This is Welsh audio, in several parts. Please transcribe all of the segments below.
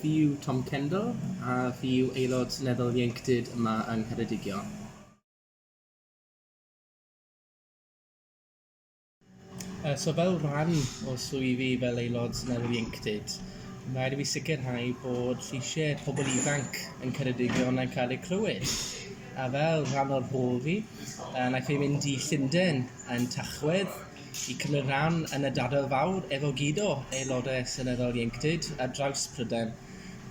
Fi yw Tom Kendall a fi yw aelod seneddol ieuenctid yma yng Ngheredigion. So fel rhan o swydd i fel aelod seneddol ieuenctid ma' raid i fi sicirhau bod lleisiau pobl ifanc yn Ceredigion yn cael eu clywed. A fel rhan o'r rhôl fi, wnaeth fi mynd i Llundain yn Tachwedd i cymryd rhan yn y Dadail Fawr efo gyd o Aelodau Seneddol Ieuenctid ar draws Prydain,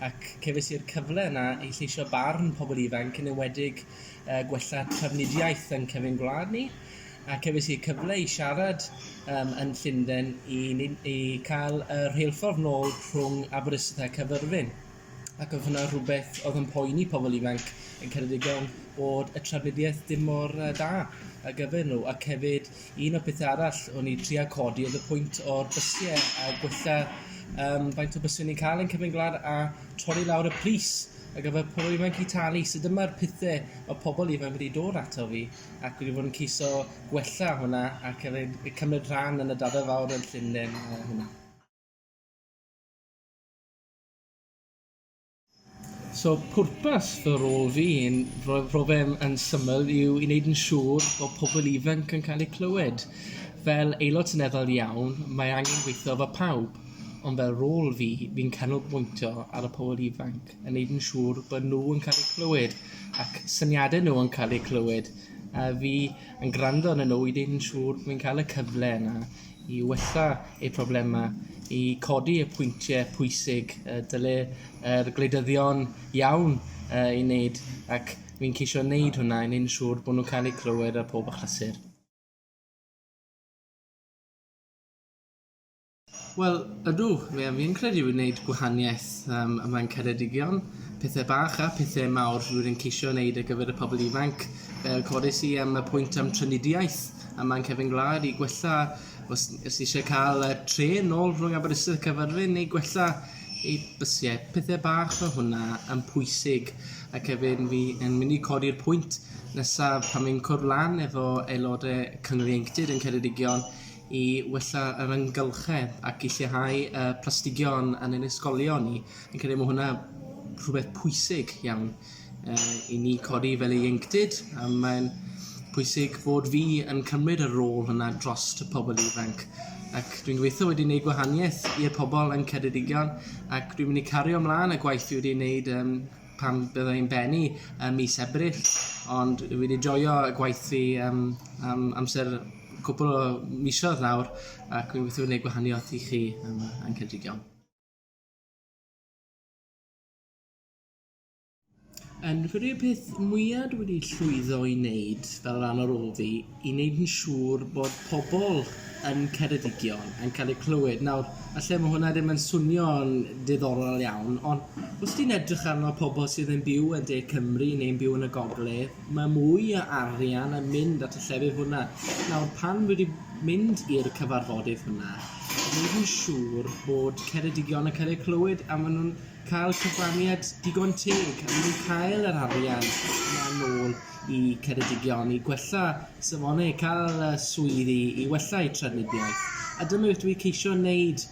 ac cefais i'r cyfle yna i lleisio barn pobl ifanc, yn enwedig gwella trafnidiaeth yn cefn gwlad ni, a cefais i'r cyfle i siarad yn Llundain i cael y rheilffordd nôl rhwng Aberystwyth a Caerfyrddin. Ac oedd hwnna rhywbeth oedd yn poeni pobl ifanc yn Ceredigion bod y trafnidiaeth ddim mor yy da ar gyfer nhw ac hefyd un o'r pethe arall o'n i tria codi oedd y pwynt o'r bysie a gwella yym faint o byse ni'n ca'l yn Cyfyn Gwlad a torri lawr y pris ar gyfer pobl ifanc i talu so dyma'r pethe ma' pobl ifanc wedi dod ato fi ac wedi bod yn ceisio gwella hwnna ac efyd yy cymryd rhan yn y Dafod Fawr yn Llunden yy hwnna. So pwrpas fy rôl fi yn rho- rho fe'n yn syml yw i wneud yn siŵr bod pobl ifanc yn cael eu clywed. Fel aelod seneddol iawn mae angen gweithio efo pawb ond fel rôl fi fi'n canolbwyntio ar y pobl ifanc yn wneud yn siŵr bod nhw yn cael eu clywed ac syniadau nhw yn cael eu clywed a fi yn gwrando arnyn nhw i wneud yn siŵr bo' fi'n cael y cyfle yna i wella eu problemau, i codi y pwyntiau pwysig y dyle yr gwleidyddion iawn ei wneud, ac fi'n ceisio wneud hwnna i wneud yn siŵr bod nhw'n cael eu clywed ar pob achlysur. Wel, ydw, fi yn credu fi'n wneud gwahaniaeth um, ym Mlaen Ceredigion, pethau bach a pethau mawr rwy'n ceisio wneud ar gyfer y pobl ifanc, fel codes i am y pwynt am trinidiaeth. a mae'n cefn gwlad i gwella os os ni isie ca'l yy trên nôl rhwng Aberystwyth a Caerfyrddin i gwella ei bysie pethe bach fel hwnna yn pwysig ac hefyd fi yn myn' i codi'r pwynt nesa pan fi'n cwrdd lan efo aelode Cyngor Ieuenctid yn Ceredigion i wella yr amgylchedd ac i lleihau y plastigion yn ein ysgolion ni fi'n credu ma' hwnna rhwbeth pwysig iawn. uh, i ni codi fel ei ieuenctid, a mae'n pwysig bod fi yn cymryd y rôl hwnna dros y pobl ifanc. Ac dwi'n gweithio wedi gwneud gwahaniaeth i'r pobl yn Ceredigion ac dwi'n mynd i cario ymlaen y gwaith dwi wedi gwneud um, pan byddai yn bennu um, mis Ebrill. Ond dwi wedi joio y gwaith fi um, am amser cwpl o misoedd nawr ac dwi'n gweithio wedi gwneud gwahaniaeth i chi um, yn Ceredigion. Yn credu y peth mwya' dwi wedi llwyddo i neud fel ran o rôl fi i neud yn siŵr bod pobol yn Ceredigion yn ca'l eu clywed. Nawr falle ma' hwnna ddim yn swnio'n diddorol iawn on' os ti'n edrych arno pobol sydd yn byw yn de Cymru neu'n byw yn y gogle ma' mwy o arian yn mynd at y llefydd hwnna. Nawr pan dwi 'di mynd i'r cyfarfodydd hwnna neud yn siŵr bod Ceredigion yn ca'l eu clywed a ma' nw'n cael cyfraniad digon teg a ni'n cael yr arian yna nôl i Ceredigion i gwella safonau, cael y swydd i, i wella eu trafnidiaeth. A dyna beth dwi'n ceisio wneud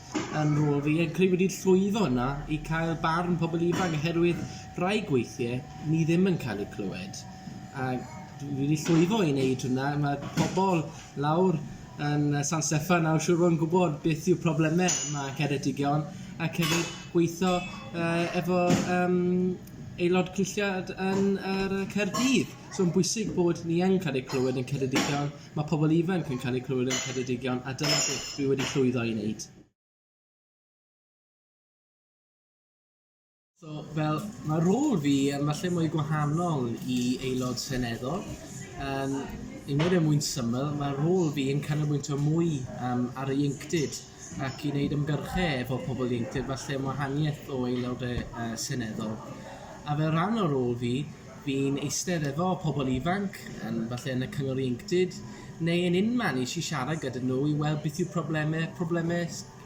yn rôl fi, a credu wedi llwyddo yna i cael barn pobl ifanc, oherwydd rhai gweithiau ni ddim yn cael eu clywed. A dwi wedi llwyddo i wneud hwnna, mae pobl lawr yn San Steffan nawr siŵr fod yn gwybod beth yw problemau mae Ceredigion ac hefyd gweithio uh, efo um, aelod cynlliad yn yr uh, Cerdydd. So yn bwysig bod ni yn cael ei clywed yn Ceredigion, mae pobl ifanc yn cael ei clywed yn Ceredigion a dyna beth fi wedi llwyddo i wneud. So, fel, mae rôl fi yn falle mwy gwahanol i aelod seneddol. Um, I wneud e mwyn syml, mae rôl fi yn canolbwyntio mwy um, ar y ieuenctid ac i wneud ymgyrchau efo pobl ieuenctid, falle am wahaniaeth o aelod uh, seneddol. A fel rhan o rôl fi, fi'n eistedd efo pobl ifanc, yn, falle yn y cyngor ieuenctid, neu yn unman i si siarad gyda nhw i weld beth yw problemau, problemau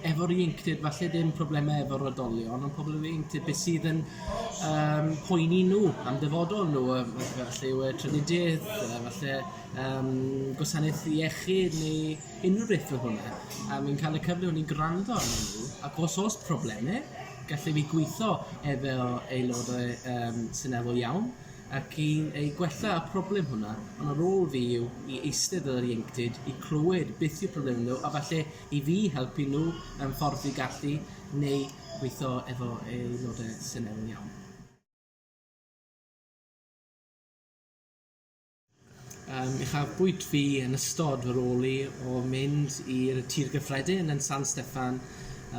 Efo'r ieuenctid falle ddim problemau efo'r oedolion ond pobl efo ieuenctid beth sydd yn yym poeni nhw am dyfodol nhw yy f- f- falle yw e trafnidiaeth yy falle yym gwasanaeth iechyd neu unrhyw beth fel hwnna a fi'n cael y cyfle o ni'n gwrando arnyn nhw ac os o's probleme gallen ni gweitho ef- fel aelodau yym seneddol iawn ac i ei gwella y problem hwnna ond y rôl fi yw i eistedd fel yr ieuenctid i clywed beth yw problemau nhw a falle i fi, helpu nhw mewn ffordd dwi gallu, neu gweithio efo aelodau sy'n iawn iawn. Yym, uchafbwynt fi yn ystod fy rôl i o mynd i'r Tir Gyffredin yn San Steffan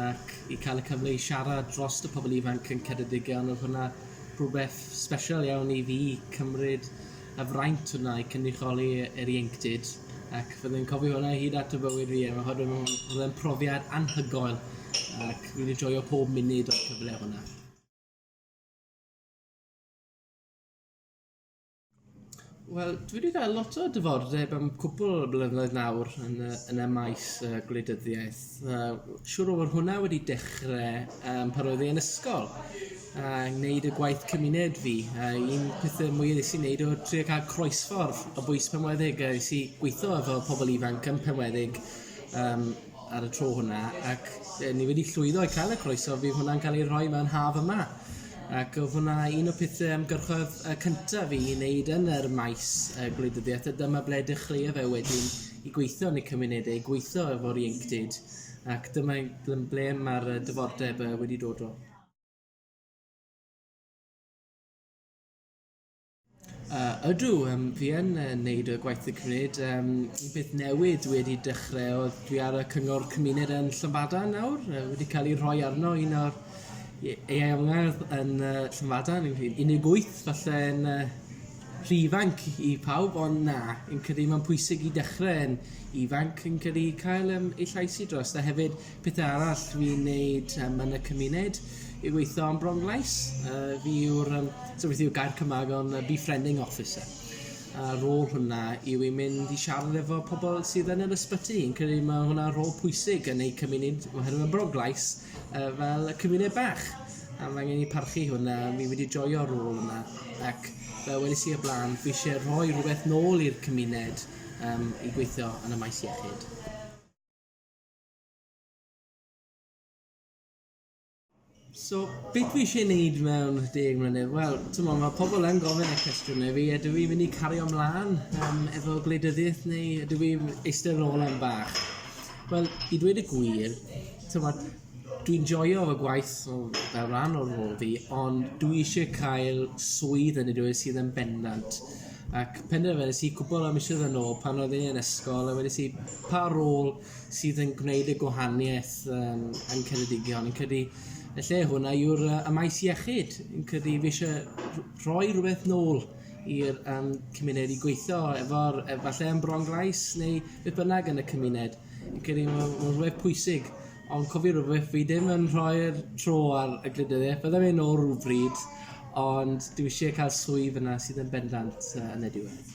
ac i cael y cyfle i siarad drost y pobl ifanc yn Ceredigion, odd hwnna rhwbeth sbeshal iawn i fi, cymryd y fraint yna i cynrychioli yr ieuenctid ac fydden i'n cofio hwnna hyd at y bywyd fi a oherwydd oedd e'n profiad anhygoel ac fi wedi joio pob munud o'r cyfle hwnna. Wel, dwi wedi cael lot o dyfodeb am cwpl o blynyddoedd nawr yn y, yn y maes uh, gwleidyddiaeth. Uh, siwr o fod hwnna wedi dechrau um, pan roedd ei yn ysgol. a gwneud y gwaith cymuned fi a un pethau mwya nes i wneud oedd trio cael croesffordd o bwys penweddig a es i gweithio efo pobl ifanc yn penweddig um, ar y tro hwnna ac e, ni wedi llwyddo i cael y croeso fi hwnna'n cael ei rhoi mewn haf yma ac oedd hwnna un o pethau ymgyrchoedd y cyntaf fi i wneud yn yr maes y gwleidyddiaeth a dyma ble dechreuodd e wedyn i gweithio yn y cymunedau, gweithio efo'r ieuenctid ac dyma ble mae'r dyfodeb wedi dod o. Yy ydw yym fi yn yy neud y gwaith fi'n cymryd yym un peth newydd dwi wedi dechre odd dwi ar y cyngor cymuned yn Llywbadan nawr yy wedi ca'l ei rhoi arno un o'r ie- ieuangedd yn yy Llywbadan un un deg wyth falle yn yy rhy ifanc i pawb on' na fi'n credu ma'n pwysig i dechre yn ifanc fi'n credu cael yym ei llais i drost a hefyd Pethau arall fi'n neud um, yn y cymuned i weithio am bronglais. Uh, fi yw'r, um, so beth yw gair Cymraeg o'n uh, befriending officer. A rôl hwnna yw i mynd i siarad efo pobl sydd yn yr ysbyty. Yn credu mae hwnna rôl pwysig yn eu cymuned, mae hynny'n broglais uh, fel y cymuned bach. A mae angen i parchu hwnna, mi wedi joio rôl yma. Ac fel wedi si y blaen, fi eisiau rhoi rhywbeth nôl i'r cymuned um, i gweithio yn y maes iechyd. So, beth fi eisiau gwneud mewn deg mlynedd? Wel, ti'n meddwl, mae pobl yn gofyn y cwestiwn i fi, ydw i'n mynd i cario ymlaen um, efo gwleidyddiaeth neu ydw i'n eistedd yn ôl am bach? Wel, i dweud y gwir, ti'n meddwl, dwi'n joio fy gwaith o fel rhan o'r rôl fi, ond dwi eisiau cael swydd yn y dweud sydd yn bendant. Ac penderfynais i cwbl o misoedd yn ôl pan oedd yn ysgol a wedi si pa rôl sydd yn gwneud y gwahaniaeth um, yn Ceredigion. Yn credu, y lle hwnna yw'r uh, y maes iechyd. Yn credu, fi eisiau rhoi rhywbeth nôl i'r um, cymuned i gweithio efo'r, efallai yn bron glais neu beth bynnag yn y cymuned. Yn credu, mae'n rhywbeth pwysig. Ond cofio rhywbeth, fi ddim yn rhoi'r tro ar y glidyddiaeth. Byddai'n mynd nôl rhywbryd, ond dwi eisiau cael swydd yna sydd yn bendant uh, yn y diwedd.